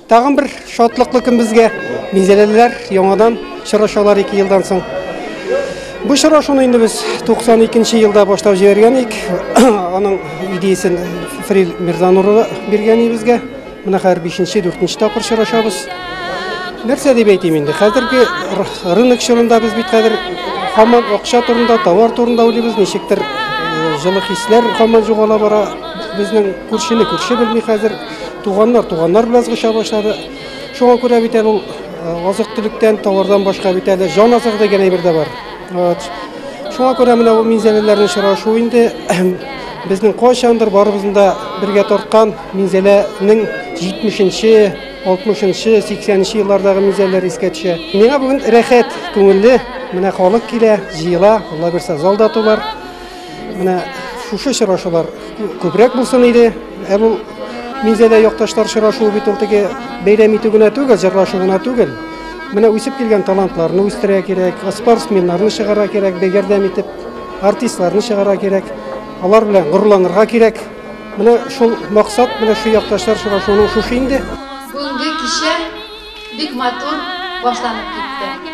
Тагын бер шатлыклы көн безгә. Минзәләлеләр яңадан чырашалар 2 елдан соң. Бу чырашуны инде без 92 елда башлап җибәргән ик. Аның идеясен Фрил Мирзануры биргән ибезгә. Менә хәзер 5-нче, 4-нче тапкыр чырашабыз. Нәрсә дип әйтим инде? Хәзерге рынок чорында без бит хәзер хаман акча турында, товар турында уйлыйбыз, ничектер э, җылы хисләр хаман югала бара. Безнең күршене күрше белми хәзер. Туганнар туганнар белән сгыша башлады. Шуңа күрә бит әле ул азык-төлектән, товардан башка бит әле җан азыгы дигән әйбер дә бар. Вот. Шуңа күрә менә бу минзәләләрнең очрашуы инде безнең кайчандыр барыбызны да бергә тарткан минзәләнең 70-нче 60-нчы, 80-нче еллардагы мизәлләр искә төшә. Миңа бүген рәхәт, күңелле. Менә халык килә, җыела, Алла бирса, зал да тулар. Менә шушы очрашулар күбрәк булсын иде. Ә бу минзәдә якташлар очрашуы бит ул теге бәйрәм итү генә түгел, җырлашу гына түгел. Менә үсеп килгән талантларны үстерә кирәк, спортсменнарны чыгара кирәк, бәйгәрдәм итеп, артистларны чыгара кирәк. Алар белән горурланырга кирәк. Менә шул максат, менә шул якташлар очрашуының шушы инде. Бүгенге кичә бик матур башланып китте.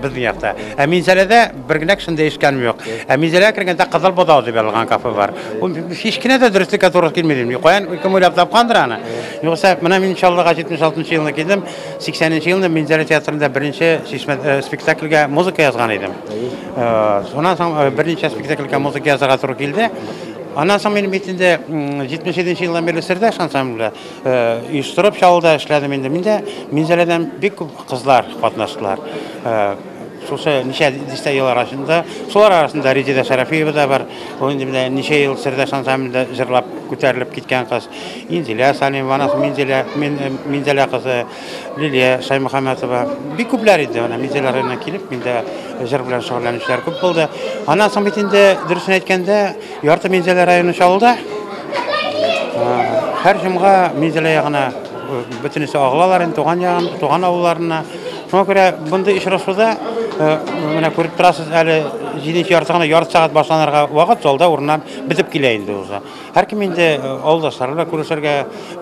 Безнең якта. Ә Минзәләдә бер генә кешем дә ишеткәнем юк. Ә Минзәләгә кергәндә Кызыл бозау дип язылган кафе бар. Ул һич кенә дә дөреслеккә туры килми дим. Каян кем уйлап тапкандыр аны? Югыйсә, менә мин Чаллыга 76 елны килдем. 80 нче елны Минзәлә театрында беренче чишмә э, спектакльгә музыка язган идем. Э, Шуннан соң э, берничә спектакльгә музыка язарга туры килде. Аннан соң мин бит инде м, 77 нче елдан бирле Сердәш ансамбльдә. Оештырып чалуда эшләдем инде. Миндә Минзәләдән бик күп кызлар катнаштылар. Шушы ничә дистә ел арасында, шулар арасында Резеда Шәрәфиева да бар. Ул инде менә ничә ел Сердәш ансамблендә җырлап күтәрелеп киткән кыз. Инзилә Салимова, анасы Минзилә, Минзәлә кызы. Лилия Шаймөхәмәтова. Бик күпләр иде, ана мизелар районына килеп, миндә җыр белән шөгыльләнүчеләр күп булды. Аннан соң бит инде дөресен әйткәндә, ярты Минзәлә районы чалуда. Һәр җомга Минзәлә ягына бөтенесе агылалар инде туган ягын, туган авылларына. Шуңа күрә мондый очрашуда менә күреп торасыз әле 7 ярты гына ярты сәгать башланырга вакыт залда урыннар бетеп килә инде уже. Һәркем инде авылдашлары белән күрешергә,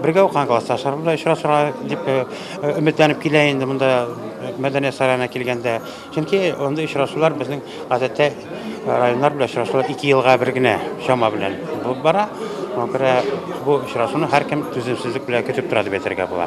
бергә укыган классташлары белән очрашырга дип өметләнеп килә инде монда мәдәният сараена килгәндә. Чөнки андый очрашулар безнең гадәттә районнар белән очрашулар ике елга бер генә чама белән булып бара. Шуңа күрә бу очрашуны һәркем түземсезлек белән көтеп тора дип әйтергә була.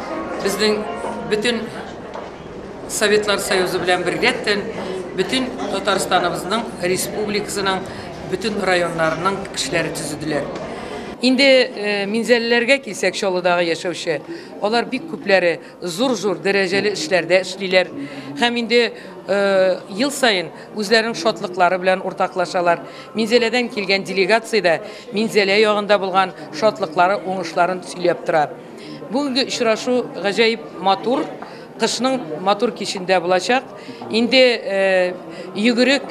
Безнең бөтен Советлар Союзы белән бергәттән бөтен Татарстаныбызның республикасының бөтен районнарының кешеләре төзеделәр. Инде минзәлеләргә килсәк, Чаллыдагы яшәүче, алар бик күпләре зур-зур дәрәҗәле эшләрдә эшлиләр һәм инде ел саен үзләренең шатлыклары белән уртаклашалар. Минзәләдән килгән делегация дә Минзәлә ягында булган шатлыклары, уңышларын сөйләп тора. Бүгенге очрашу гаҗәеп матур, кышның матур кичендә булачак. Инде йөгерек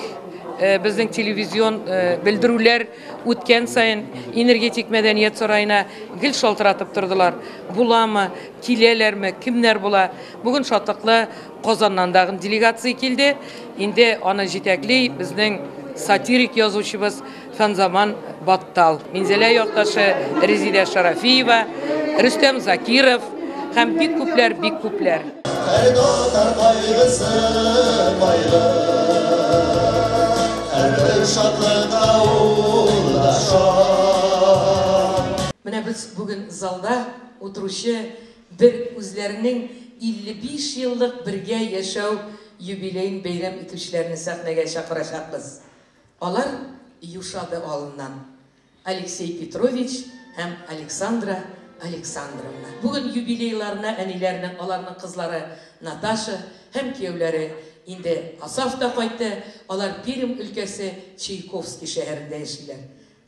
безнең телевизион белдерүләр үткән саен энергетик мәдәният сараена гел шалтыратып тордылар. Буламы, киләләрме, кемнәр була? Бүген шатлыклы Казаннан тагын делегация килде. Инде аны җитәкли безнең сатирик язучыбыз Ханзаман Баттал, Минзәлә якташы Резидә Шарафиева, Рөстәм Закиров һәм бик күпләр, бик күпләр. Һәр татар кайгысы, кайгы, һәрбер шатлыкта ул да шат. Менә без бүген залда утыручы бер үзләренең 55 еллык бергә яшәү юбилеен бәйрәм итүчеләрне сәхнәгә чакырачакбыз. Алар юшады алыннан, Алексей Петрович һәм Александра Александровна. Бүген юбилейларына әниләренең, аларның кызлары Наташа һәм кияүләре инде Асафта кайтты, алар Пермь өлкәсе Чайковский шәһәрендә яшиләр.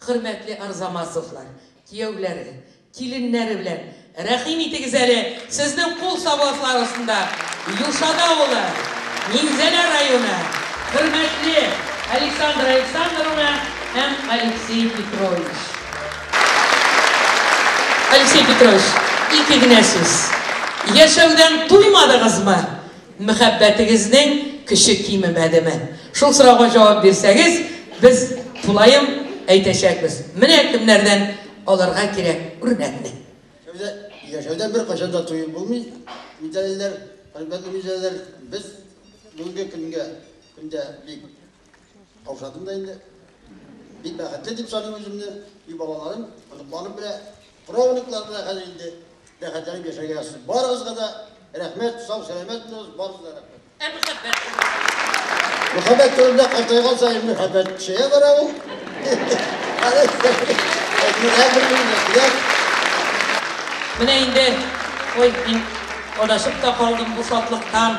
Хөрмәтле Арзамасовлар кияүләре, киленнәре белән рәхим итегез әле, сезнең кул савласлар астында Юшада авылы, Минзәлә районы, хөрмәтле Александра Александровна һәм Алексей Петрович. Алексей Петрович, ике генә сүз. Яшәүдән туймадыгызмы? Мәхәббәтегезнең көче кимемәдеме? Шул сорауга җавап бирсәгез, без тулаем әйтәчәкбез. Менә кемнәрдән алырга кирәк үрнәкне. Шәүдә, яшәүдә беркайчан да туеп булмый, мидәлеләр, хөрмәтле мидәлеләр, без бүгенге көнгә, көндә бик Каушадым да инде. Бик бәхетле дип саныйм үземне. И балаларым, оныкларым белә, правнуклар белә хәзер инде бәхетләнеп яшәргә язсын. Барыгызга да рәхмәт, сау сәламәт булыгыз, барыгызга да рәхмәт. Ә мөхәббәт? Мөхәббәт турында картайган саен мөхәббәт чәя бара ул. Менә инде, ой, мин адашып та калдым бу шатлыктан.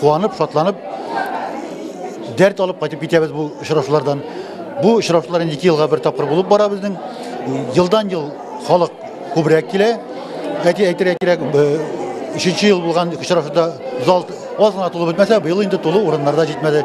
Куанып, шатланып, дәрт алып кайтып китәбез бу очрашулардан. Бу очрашулар инде ике елга бер тапкыр булып бара безнең. Елдан ел халык күбрәк килә. Әти әйтергә кирәк, э, өченче ел булган очрашуда зал аз гына тулып бетмәсә, быел инде тулы урыннарда җитмәде.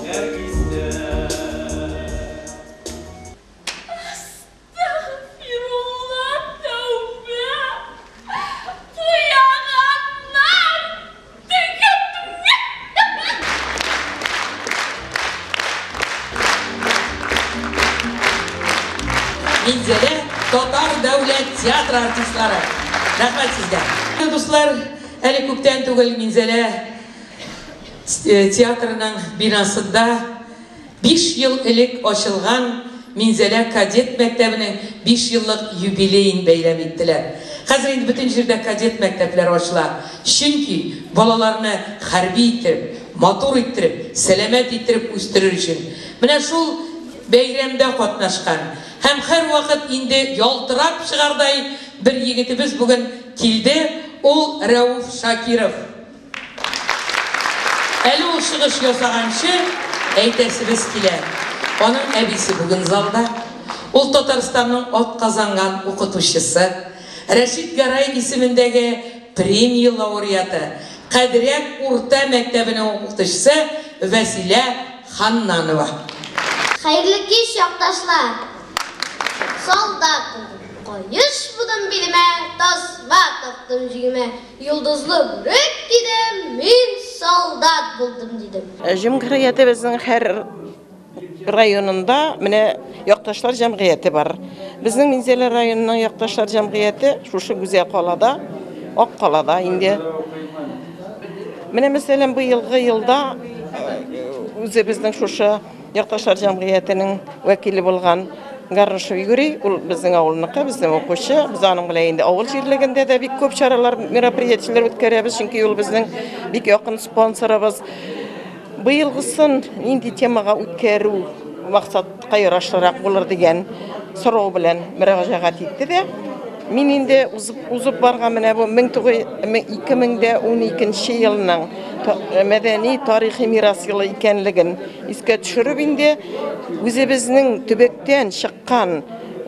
Нәркистә. Әстәгъфирулла, тәүбә! Куяганнар! Минзәлә татар дәүләт театры артистлары, рәхмәт сезгә! Дуслар, әле күптән түгел Минзәлә Театрның бинасында биш ел элек ачылган Минзәлә кадет мәктәбенең биш еллык юбилеен бәйрәм иттеләр. Хәзер инде бөтен җирдә кадет мәктәпләре ачыла, чөнки балаларны хәрби иттереп, матур иттереп, сәламәт иттереп үстерер өчен менә шул бәйрәмдә катнашкан һәм һәрвакыт инде ялтырап чыгардай бер егетебез бүген килде, ул Рәүф Шакиров. Әле ул чыгыш ясаганчы әйтәсебез килә, аның әбисе бүген залда. Ул Татарстанның атказанган укытучысы, Рәшит Гәрай исемендәге премия лауреаты, Кадряк урта мәктәбенең укытучысы Вәсилә Ханнанова. Хәерле кич, якташлар! Солдат булдым, каеш будым билемә, Тасма тактым җигемә. Йолдызлы бүрек кидем, мин солдат булдым, дидем. Җәмгыятебезнең һәр районында менә якташлар җәмгыяте бар. Безнең Минзәлә районының якташлар җәмгыяте шушы Гүзәл калада, Ак калада инде. Менә мәсәлән, быелгы елда үзебезнең шушы Якташлар җәмгыятенең вәкиле булган Гарнышев Юрий, ул безнең авылныкы, безнең укучы. Без аның белән инде авыл җирлегендә дә бик күп чаралар, мероприятиеләр үткәрәбез, чөнки ул безнең бик якын спонсорыбыз. Быелгысын нинди темага үткәрү максатка ярашлырак булыр дигән сорау белән мөрәҗәгать итте дә. Мин инде узып барган менә бу 2012 елның мәдәни тарихи мирас елы икәнлеген искә төшереп инде үзебезнең төбәктән чыккан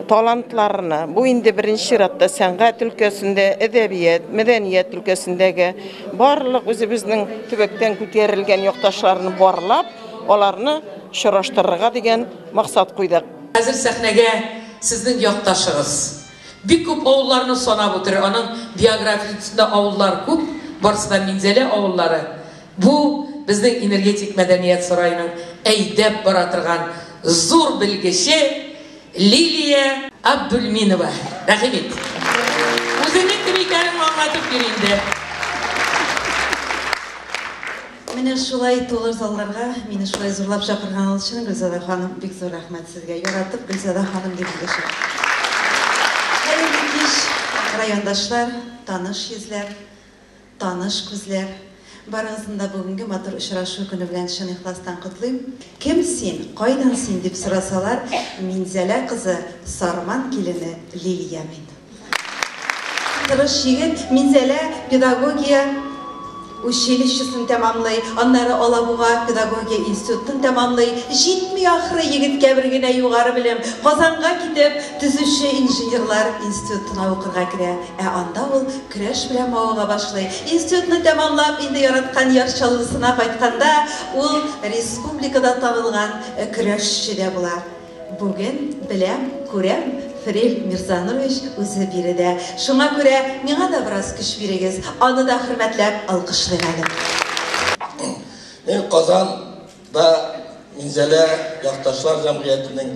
талантларны, бу инде беренче чиратта сәнгать өлкәсендә, әдәбият, мәдәният өлкәсендәге барлык үзебезнең төбәктән күтәрелгән якташларны барлап, аларны очраштырырга дигән максат куйдык. Хәзер сәхнәгә Сезнең якташыгыз. Бик күп авылларны санап үтер, аның биографиясендә авыллар күп, барысы да Минзәлә авыллары. Бу, безнең энергетик мәдәният сараеның әйдәп бара торган зур белгече Лилия Абдульминова. Рәхим ит. Үзеңнең кем икәнең аңлатып бир инде. Менә шулай тулы залларга мине шулай зурлап чакырган ул чын Гөлзада ханым, бик зур рәхмәт сезгә. Яратып Гөлзада ханым дип эндәшәм. Хәерле кич, райондашлар, таныш йөзләр, таныш күзләр. Барыгызны да бүгенге матур очрашу көне белән чын ихластан котлыйм. Кем син, кайдан син дип сорасалар, Минзәлә кызы, Сарман килене Лилия мин. Тырыш егет Минзәлә педагогия училищесын тәмамлый, аннары Алабуга педагогия институтын тәмамлый. Җитми ахры егеткә бер генә югары белем. Казанга китеп, төзүче инженерлар институтына укырга керә. Ә анда ул көрәш белән мавыга башлый. Институтны тәмамлап, инде яраткан Яр Чаллысына кайтканда, ул республикада танылган көрәшче дә була. Бүген, беләм, күрәм, Фрель Мирзанович үзе биредә. Шуңа күрә миңа да бераз көч бирегез, аны да хөрмәтләп алкышлыйк әле. Мин Казан да Минзәлә якташлар җәмгыятенең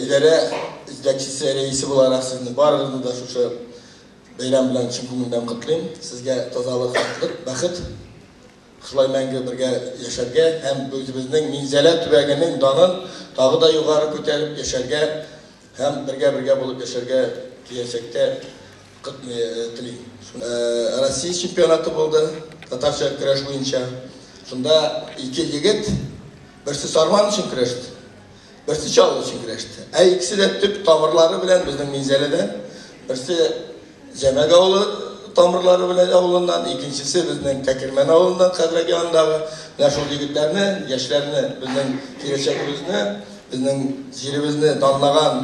идарә җитәкчесе, рәисе буларак сезне барыгызны да шушы бәйрәм белән чын күңелдән котлыйм. Сезгә тазалык, шатлык, бәхет. Шулай мәңге бергә яшәргә һәм үзебезнең Минзәлә төбәгенең данын тагы да югары күтәреп яшәргә һәм бергә-бергә булып яшәргә киләчәктә телим. Россия чемпионаты булды татарча көрәш буенча. Шунда ике егет берсе сарман өчен көрәште. Берсе чалу өчен көрәште. Ә икесе дә төп тамырлары белән безнең Минзәләдән. Берсе Җәмәк авылы тамырлары белән авылыннан, икенчесе безнең Тәкермән авылыннан хәзрәк янындагы. Менә шул егетләрне, яшьләрне, безнең киләчәгебезне, безнең җиребезне данлаган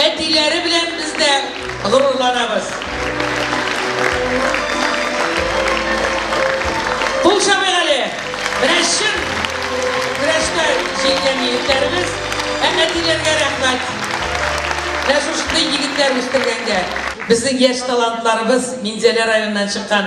Әтиләре белән без дә горурланабыз. Кул чабыйк әле! Менә чын көрәштә җиңгән егетләребез! Ә әтиләргә рәхмәт! Менә шушындый егетләр үстергәнгә! Безнең яшь талантларыбыз Минзәлә районыннан чыккан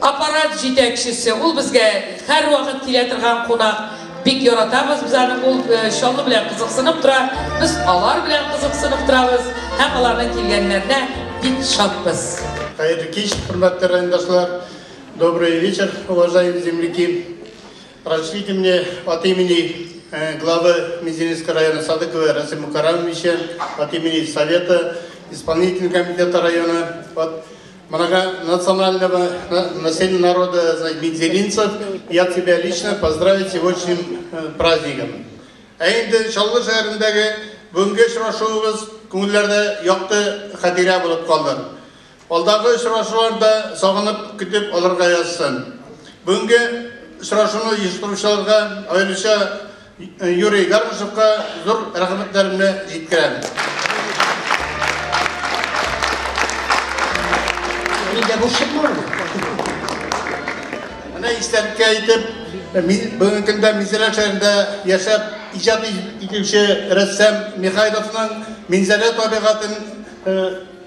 Аппарат җитәкчесе, ул безгә һәрвакыт килә торган кунак. Бик яратабыз без аны, ул Чаллы белән кызыксынып тора, без алар белән кызыксынып торабыз һәм аларның килгәннәренә бик шатбыз. Хәерле кич, хөрмәтле райондашлар! Добрый вечер, уважаемые земляки! Разрешите мне от имени главы Мизинецкого района Садыкова Расима Карамовича, от имени Совета, Исполнительного комитета района, от Манага национального населения народа Медзелинцев, я тебя лично поздравить с сегодняшним э, праздником. Ә инде Чаллы шәһәрендәге бүгенге очрашуыбыз күңелләрдә якты хатирә булып калды. Алдагы очрашуларда сагынып көтеп алырга язсын. Бүгенге очрашуны оештыручыларга аеруча Юрий Гармашевка зур рәхмәтләремне җиткерәм. Нигә бу чыкмады? Менә истәлеккә итеп, мин бүгенге көндә Минзәлә шәһәрендә яшәп иҗат итүче рәссам Михайловның Минзәлә табигатын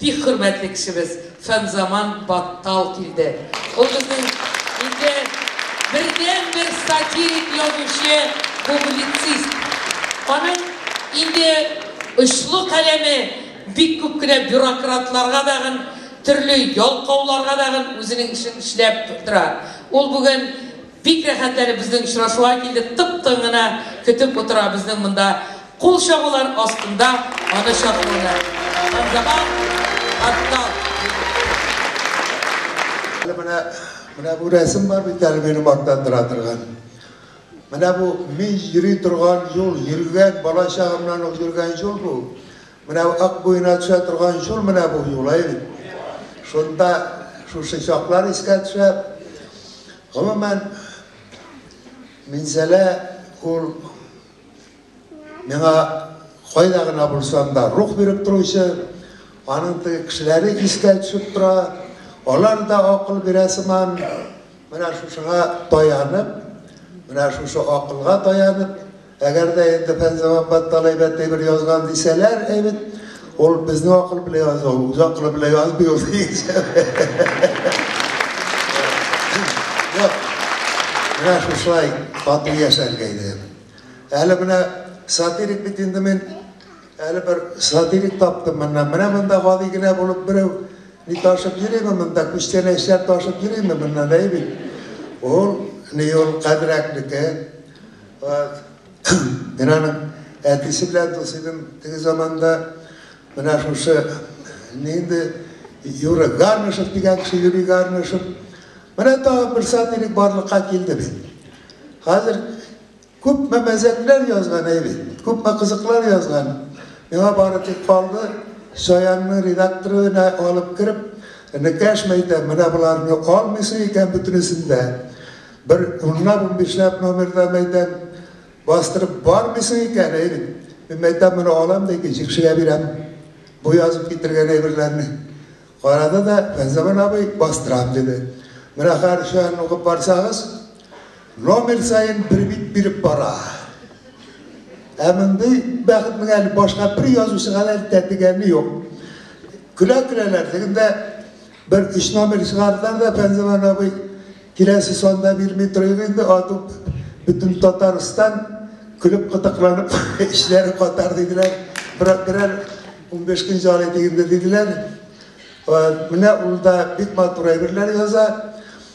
Бик хөрмәтле кешебез Фәнзаман Баттал килде. Ул безнең инде бердәнбер сатирик язучы, публицист. Аның инде очлы каләме бик күп кенә бюрократларга дагын, төрле ялкауларга дагын үзенең эшен эшләп тора. Ул бүген Бик рәхәт әле безнең очрашуга килде, тып-тын гына көтеп утыра безнең монда кул чабулар астында аны чакырулар. Ханзабан, Хаттал. Әле менә, менә бу рәсем бар бит әле мине мактандыра торган. Менә бу мин йөри торган юл, йөргән, бала чагымнан ук йөргән юл бу. Менә ак буена төшә торган юл менә бу юл, әй бит. Шунда шушы чаклар искә төшә. Гомумән, Минзәлә ул миңа кайда гына булсам да рух биреп торучы, аның теге кешеләре искә төшеп тора, алар да акыл бирә сыман, менә шушыга таянып, менә шушы акылга таянып, Әгәр дә инде Фәнзаман Баттал әйбәтле бер язган дисәләр, әй бит, ул безнең акыл белән язу, үз акылы белән язмый ул дигәнчә. Менә шушылай тату яшәргә иде. Әле менә сатирик бит инде мин әле бер сатирик таптым моннан. Менә монда гади генә булып берәү ни ташып йөрими монда, күчтәнәчләр ташып йөрими моннан, әй бит. Ул ни ул кадерәкнеке. Мин аның әтисе белән дус идем теге заманда. Менә шушы нинди Юра Гармышев дигән кеше, Юрий Гармышев. Менә тагын бер сатирик барлыкка килде бит. Хәзер күпме мәзәкләр язган әй бит, күпме кызыклар язган. Миңа бары тик калды, Шаянның редакторына алып кереп, Энекәш мәйтә, менә боларны алмыйсы икән бөтенесен дә. Бер унлап-унбишләп номерда мәйтәм, бастырып бармыйсың икән, әй бит. Мин мәйтәм, моны алам да икенче кешегә бирәм, бу язып китергән әйберләрне. Карады да, Фәнзаман абый, бастырам, диде. Менә хәер чаян укып барсагыз, номер саен бер бит биреп бара. Ә мондый бәхетнең әле башка бер язучыга да тәтегәне юк. Көлә-көләләр, ләкин дә Бер өч номер чыгардылар да, Фәнзилан абый, киләсе санда бирми торыйк инде, ату бөтен Татарстан көлеп кытыкланып эшләре катар диделәр. Брат берәр 15 көн җары дигенде диделәр. Менә ул да бик матур әйберләр яза.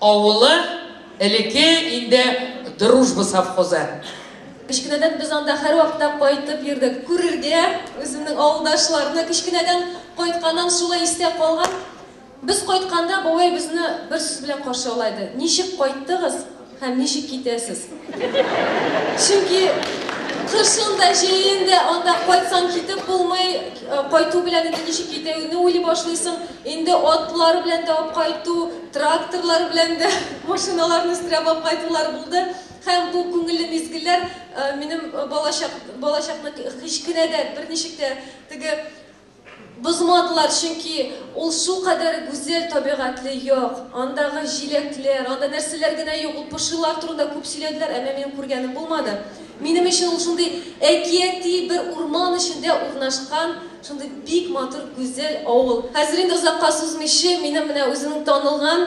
Авылы, элеке инде Дружба совхозы. Кечкенәдән без анда һәрвакытта кайтып йөрдек. Күрергә, үземнең авылдашларны кечкенәдән кайтканнан шулай истә калган. Без кайтканда бабай безне бер сүз белән каршы ала иде. Ничек кайттыгыз? Һәм ничек китәсез? Чөнки кышын да, җәен дә анда кайтсаң китеп булмый, кайту белән инде ничек китәүне уйлый башлыйсың. Инде атлар белән дә алып кайту, тракторлар белән дә машиналарны өстерәп алып кайтулар булды. Һәм бу күңелле мизгелләр минем балачак балачакны кечкенәдән берничек тә теге Бозмадылар, чөнки ул шулкадәр гүзәл табигатьле як, андагы җиләкләр, анда нәрсәләр генә юк, ул пошилар турында күп сөйләделәр, әмма минем күргәнем булмады. Минем өчен ул шундый әкияти бер урман эчендә урнашкан шундый бик матур, гүзәл авыл. Хәзер инде озакка сузмыйчы, минем менә үземнең танылган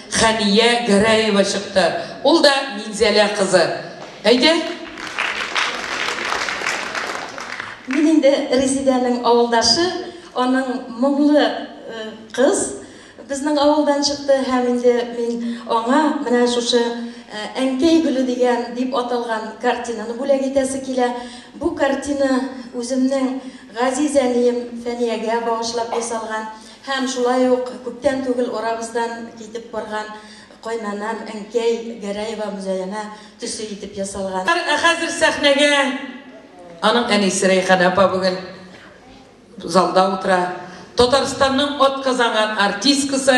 Хәния Гәрәева чыкты. Ул да Минзәлә кызы. Әйдә! Мин инде Резидәнең авылдашы, аның моңлы кыз безнең авылдан чыкты һәм инде мин аңа менә шушы Әнкәй гөле дигән дип аталган картинаны бүләк итәсе килә. Бу картина үземнең газиз әнием Фәниягә багышлап ясалган. Һәм шулай ук күптән түгел арабыздан китеп барган кайнанам, әнкәй Гәрәева Мөзәянә төсе итеп ясалган. Ә хәзер сәхнәгә аның әнисе Рәйханә апа бүген залда утыра, Татарстанның атказанган артисткасы,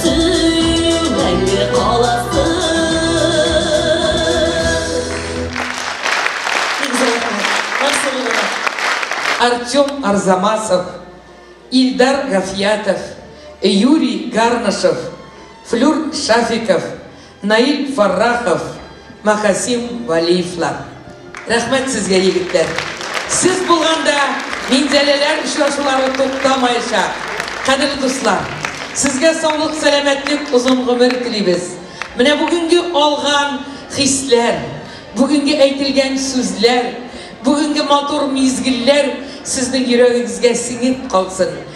Син мәңге Артем Арзамасов, Ильдар Гафиятов, Юрий Гарнышев, Флюр Шафиков, Наил Фаррахов, Махасим Валиевлар. Рәхмәт сезгә, егетләр! Сез булганда Минзәләләр очрашулары туктамаячак. Кадерле дуслар, сезгә саулык, сәламәтлек, озын гомер телибез. Менә бүгенге алган хисләр, бүгенге әйтелгән сүзләр, бүгенге матур мизгелләр сезнең йөрәгегезгә сеңеп калсын.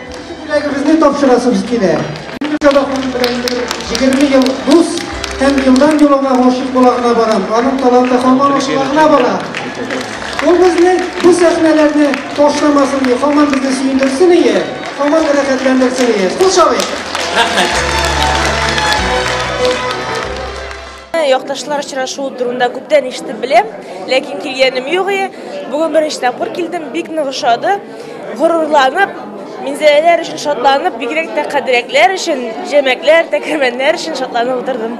Икенче бүләгебезне тапшырасыбыз килә. Юнусова ханым белән инде 20 ел дус һәм елдан-ел аңа гашыйк була гына барам. Аның таланты һаман ачыла гына бара. Ул безне бу сәхнәләрне ташламасын, ди, һаман безне сөендерсен ие, һаман рәхәтләндерсен ие. Кул чабыйк! Рәхмәт. Якташлар очрашуы турында күптән ишетеп беләм, ләкин килгәнем юк иде. Бүген беренче тапкыр килдем, бик нык ошады. Горурланып, минзәләләр өчен шатланып, бигрәк тә кадерәкләр өчен, җәмәкләр, тәкәмәннәр өчен шатланып утырдым.